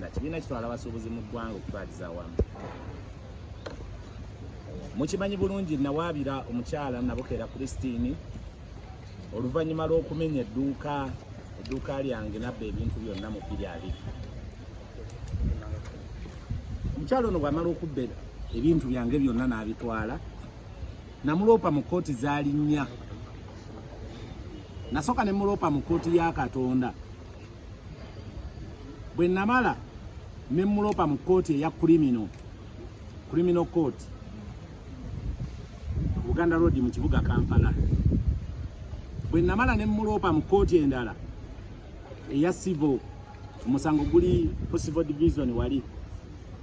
Kibiina kitwala abasuubuzi mu ggwanga okutwaliza awamu. Mukimanyi bulungi nawaabira omukyala Nabukera Christine oluvannyuma lw'okumenya edduuka edduuka lyange nabba ebintu byonna mu bbiri abiri. Omukyala ono bw'amala okubba ebintu byange byonna n'abitwala namuloopa mu kkooti zaali nnya nasooka ne muloopa mu kkooti ya Katonda bwe namala ne mulopa mu kkooti eya kulimino kulimino kkooti buganda road mu kibuga kampala bwe namala ne mulopa mu kkooti endala eya civil omusango guli ku civil division wali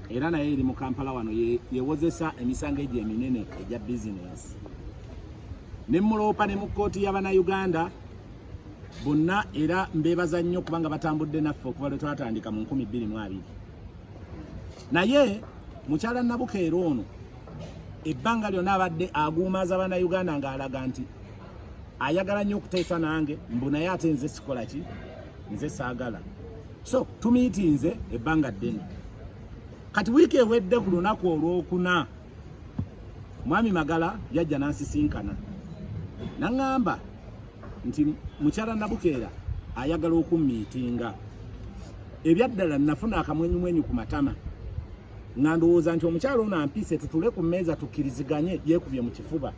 era naye eri mu kampala wano yewozesa emisango egyo eminene egya bizinensi ne muloopa ne mu kkooti y'abanauganda bonna era mbebaza nnyo kubanga batambudde naffe okuva lwe twatandika mu nkumi bbiri mu abiri naye mukyala nabukeera ono ebbanga lyona abadde aguumaaza bana uganda ng'alaga nti ayagala nnyo okuteesa nange mbu naye ate nze sikola ki nze saagala so tumiitinze ebbanga ddene kati wiiki ewedde ku lunaku olwokuna Mwami Magala yajja n'ansisinkana n'aŋŋamba nti mukyala Nabukeera ayagala okummiitinga. Ebyaddala nnafuna akamwenyumwenyu ku matama nga ndowooza nti omukyala ono ampise tutule ku mmeeza tukkiriziganye yeekubye mu kifuba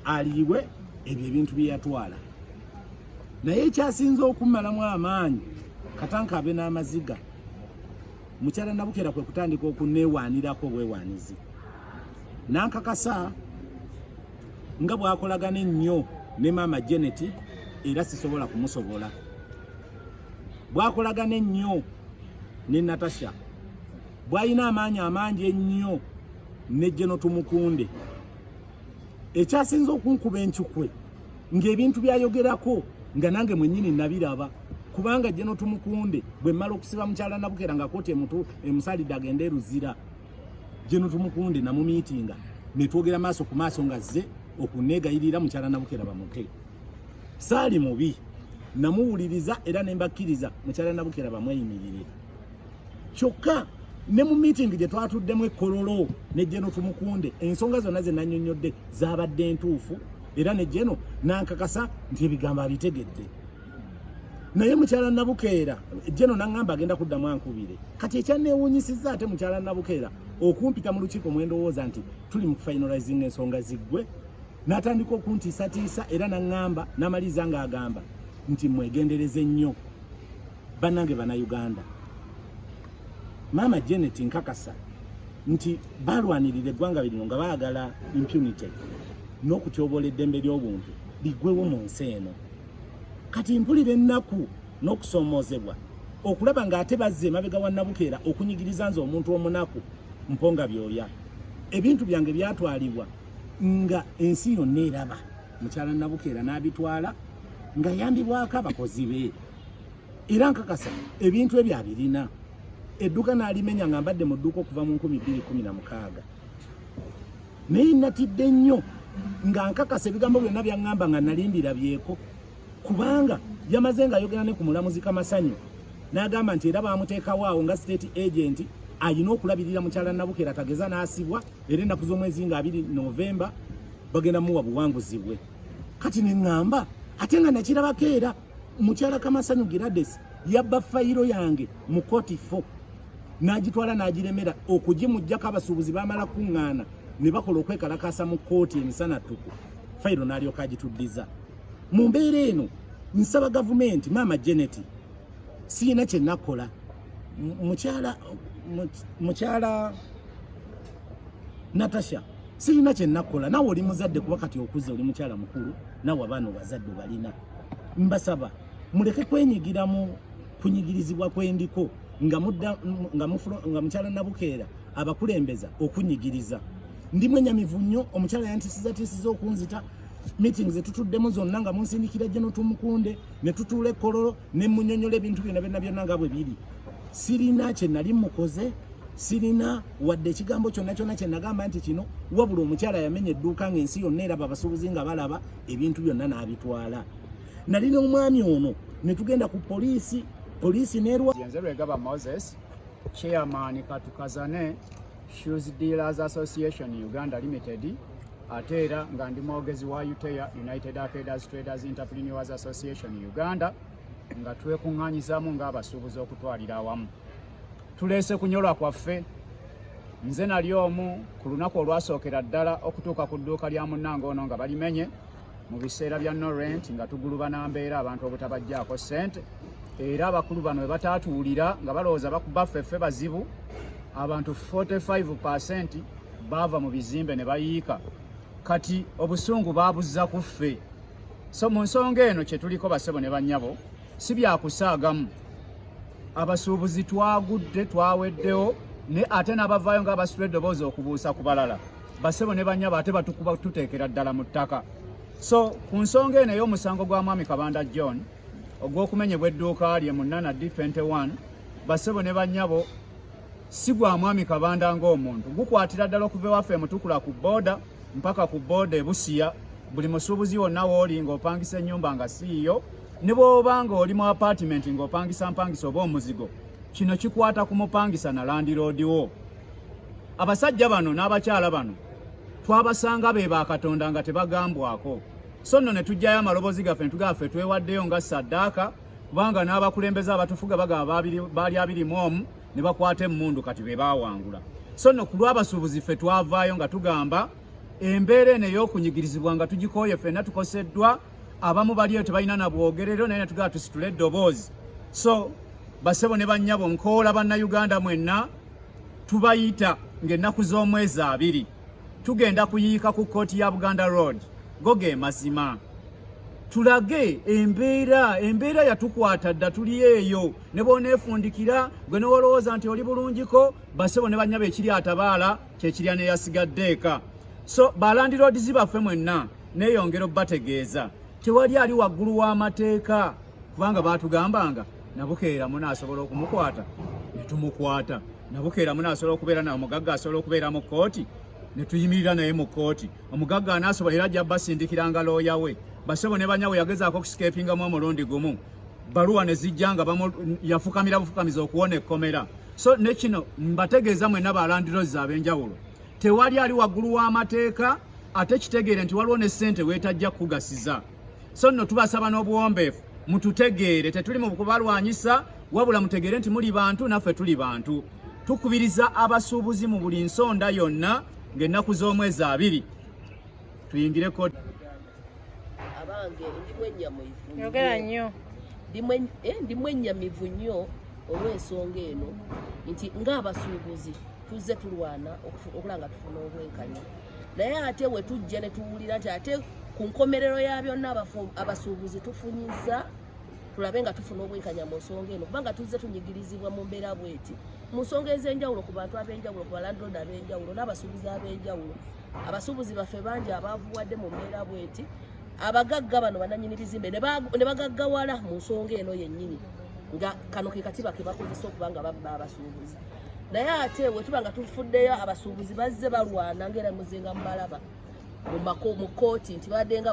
aliibwe ebyo ebintu bye yatwala. Naye ekyasinze okummalamu amaanyi katanka abe n'amaziga. Mukyala Nabukera kwe kutandika okuneewaanirako obwewaanizi n'ankakasa nga bw'akolagana ennyo ne maama Janet era sisobola kumusobola bwakolagana ennyo ne Natasha bwalina amaanyi amangi ennyo ne Jeno Tumukunde ekyasinze okunkuba enkikwe ng'ebintu byayogerako nga nange mwenyini nabiraba kubanga jje notumukunde bwe mmala okusiba mukyala nabukera nga koti emutu emusalidde agende eruzira jje notumukunde namumiitinga netwogera maaso ku maaso nga zze okunegayirira mukyala nabukera bamute saali mubi namuwuliriza era nembakkiriza mukyala nabukera bamweyimirire kyokka ne mu meeting gye twatuddemu ekololo ne jeno tumukunde ensonga zonna ze nanyonyodde zabadde entuufu era ne jeno nankakasa nti ebigambo abitegedde naye mukyala nabukeera jeno naŋamba agenda kuddamu ankubire kati ekyanewunyisizza ate mukyala nabukeera okumpita mu lukiiko mwendowooza nti tuli mu kufinalizing ensonga ziggwe natandika okuntiisatiisa era naŋamba namaliriza ng'agamba nti mwegendereze nnyo banange bana Uganda maama Janet nkakasa nti balwanirira eggwanga lino nga baagala impunity n'okutyoboola eddembe ly'obuntu ligwewo mu nsi eno kati mpulira ennaku n'okusoomoozebwa okulaba ng'ate bazze emabega wa nabukeera okunyigiriza nze omuntu omunaku mponga byoya ebintu byange byatwalibwa nga ensi yonna eraba mukyala nabukeera n'abitwala nga yambibwako abakozi be era nkakasa ebintu ebyo abirina edduka nalimenya nga mbadde mu dduuka okuva mu nkumi bbiri kumi na mukaaga naye natidde nnyo nga nkakasa ebigambo byonna byaŋŋamba nga nali mbirabyeko kubanga yamaze nga ayogera ne ku mulamuzi kamasanyu n'agamba nti era baamuteekawo awo nga state agenti alina okulabirira mukyala nabukera tageza n'asibwa era ennaku z'omwezi nga abiri novemba bagenda muwa buwanguzi bwe kati ne ŋŋamba ate nga nakirabako era mukyala kamasanyu girades yabba fayiro yange mu koti fo n'agitwala n'agiremera okugimujjako abasuubuzi bamala kuŋŋaana ne bakola okwekalakaasa mu kkooti emisana ttuku fayiro n'alyoka agituddiza mu mbeera eno nsaba gavumenti maama janet siyina kye nakola mukyala mukyala natasha siyina kye nakola nawe oli muzadde kuba kati okuze oli mukyala mukulu nawe abaana obazadde obalina mbasaba muleke kwenyigira mu kunyigirizibwa kwendiko nga mudda nga mufulo nga mukyala nabukeera abakulembeza okunyigiriza ndi mwenyamivu nnyo omukyala yantisiza tisiza okunzita meeting zetutuddemu zonna nga munsindikira gye notumukunde ne tutuula ekkololo ne munyonyola ebintu byona byonna byonna nga bwe biri sirina kye nali mukoze sirina wadde ekigambo kyonna kyonna kye nagamba nti kino wabula omukyala yamenya edduuka ng'ensi yonna eraba abasuubuzi nga balaba ebintu byonna n'abitwala nali n'omwami ono ne tugenda ku poliisi poliisi nerwanze lwegaba moses chairman katukazane shoes dealers association uganda limited ate era nga ndi mwogezi wa utea united arcaders traders interpreneurs association uganda nga twekuŋŋaanyizaamu ng'abasuubuzi okutwalira awamu tuleese kunyolwa kwaffe nze nali omu ku lunaku olwasookera ddala okutuuka ku dduuka lya munnange ono nga balimenye mu biseera bya norent nga tugulubana mbeera abantu obutabajjaako ssente era abakulu bano webataatuwulira nga balowooza bakubaffeffe bazibu abantu 45 percent baava mu bizimbe ne bayiika kati obusungu babuzza ku ffe so mu nsonga eno kye tuliko basebo ne bannyabo si byakusaagamu abasuubuzi twagudde twaweddewo ne ate n'abavaayo nga abasula eddoboozi okubuusa ku balala basebo ne bannyabo ate batukuba tuteekera ddala mu ttaka so ku nsonga eno ey'omusango gwa mwami kabanda john ogw'okumenyebwa edduuka lye mu nana d 21 basebo ne bannyabo si gwa mwami kabanda ng'omuntu gukwatira ddala okuva ewaffe emutukula ku booda mpaka ku booda ebusiya buli musuubuzi wonna wooli ng'opangisa ennyumba nga siiyo ne bw'oba ng'oli mu apaatimenti ng'opangisa mpangisa oba omuzigo kino kikwata ku mupangisa na landiroodi wo abasajja bano n'abakyala bano twabasanga be ba katonda nga tebagambwako so nno ne tujjayo amaloboozi gaffe ne tugaffe twewaddeyo nga saddaaka kubanga n'abakulembeze abatufuga bagaba baali abiri mu omu ne bakwata emmundu kati be baawangula so no ku lw'abasuubuzi ffe twavaayo nga tugamba embeera eno ey'okunyigirizibwa nga tugikooye ffenna tukoseddwa abamu baliyo tebalina na bwogerero naye natugala tusitule eddoboozi so basebo ne bannyabo nkoola bannayuganda mwenna tubayita ng'ennaku z'omwezi abiri tugenda kuyiika ku kkooti ya buganda road go ge mazima tulage embeera embeera yatukwata dda tuli eyo ne bwoneefundikira gwe newolowooza nti oli bulungiko basebo ne banyaba ekiri atabaala kyekirya neyasigadde eka so balandiroodizi baffe mwenna neeyongera obubategeeza tewali ali waggulu w'amateeka kubanga baatugambanga nabukeera munaasobola okumukwata ne tumukwata nabukeera muna asobola okubeera nawe omugagga asobola okubeera mu kkooti ne tuyimirira naye mu kkooti omugagga anaasobola era ajja basindikiranga looya we basebo ne banyawe yagezaako okusikepingamu omulundi gumu baluwa ne zijja nga yafukamira bufukamiza okuwona ekkomera so ne kino mbategeeza mwena balandirozi ab'enjawulo tewali ali waggulu w'amateeka ate kitegeere nti waliwo ne ssente weetajja kukugasiza so nno tubasaba n'obuwombeefu mututegeere tetuli mu kubalwanyisa wabula mutegeere nti muli bantu naffe tuli bantu tukubiriza abasuubuzi mu buli nsonda yonna ng'ennaku z'omwezi abiri tuyingireko ndimu ennyamivu eh, nnyo olw'ensonga eno nti ng'abasuubuzi tuzze tulwana okulanga tufuna obwenkanya naye ate wetujja netuwulira nti ate ku nkomerero ya byonna abasuubuzi tufunyiza tulabe nga tufuna obwenkanya mu nsonga eno kubanga tuzze tunyigirizibwa mu mbeera bweti mu nsonga ez'enjawulo ku bantu ab'enjawulo ku balandrod ab'enjawulo n'abasuubuzi ab'enjawulo abasuubuzi baffe bangi abaavuwadde mu mbeera bweti abagagga bano bananyini bizimbe ne bagaggawala mu nsonga eno yennyini nga kano ke katiba ke bakozesa okuba nga babba abasuubuzi naye ate wetuba nga tufuddeyo abasuubuzi bazze balwana ngaera muzinga mubalaba mu kooti nti badenga